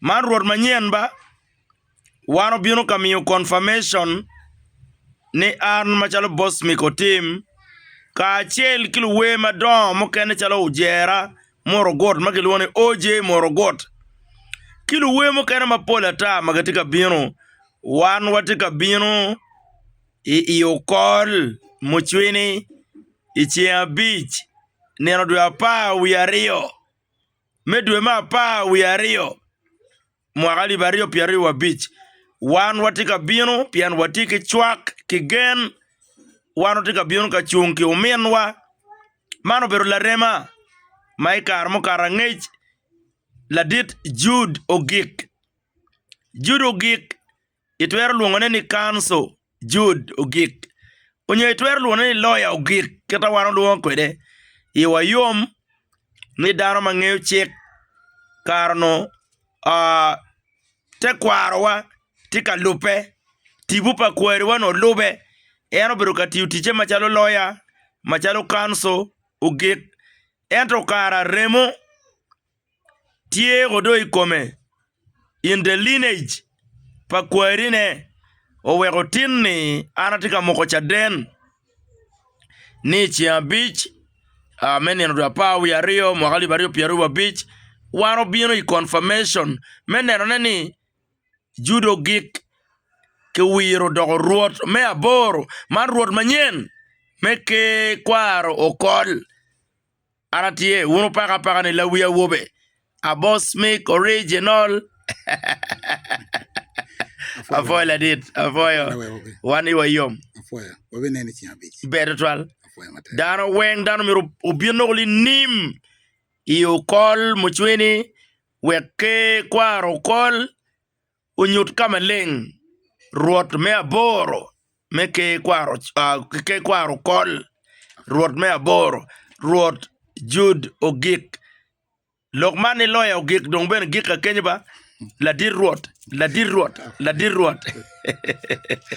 Man rwot manyen ba? Wan obino ka miyo confirmation ni an macalo boss myeko tim kacel ki luwer madongo mukene calo ojera murugut ma kilwongo ni OJ murugut ki luwer mukene mapol ata ma gitye ka bino wan watye ka bino i okol mucwini i ceng abic nino dwe apar wiye aryo. Me dwe me apar wiye aryo mwaka alip aryo pyera aryo wabic, wan watye ka bino pien watye ki cwak ki gen. Wan watye ka bino ka cung ki ominwa. Man obedo larema ma i kare mukato angec ladit Jude ogik, Jude ogik. Itwero lwongone ni kanco, jud, ogik. Onyo itwero lwongone ni loya ogik kita wan olwongo kwede i wa yom ni dano ma ngeyo cik kare onongo tekwaro wa tye ka lube tibu pa kwari wa onongo lube en obedo ka tiyo tice macalo loya macalo kanco ogik ento kara remo tye ko do i kome in the lineage pa kwarine oweko tin ni an atye ka moko caden ni i ceng abic me nino dwe apar wiye aryo mwaka alip aryo pyera wiye abic wan obino i confirmation me nenone ni Juda ogik kiwiro odoko Rwot me aboro man Rwot manyen me ker kwaro okol. Ara tye wunu paka apaka ni lawi awobe abos mi original apwoyo ladit apwoyo wan i wa yom ber tutwal dano weng dano myero obin nongo linim i okol mucwini wek ker kwaro okol. Onyut ka maleng Rwot me aboro me ker kwaro kol Rwot me aboro Rwot Jud ogik lok man ni loya ogik dong bene gika kenyo ba ladit Rwot ladit Rwot ladit Rwot.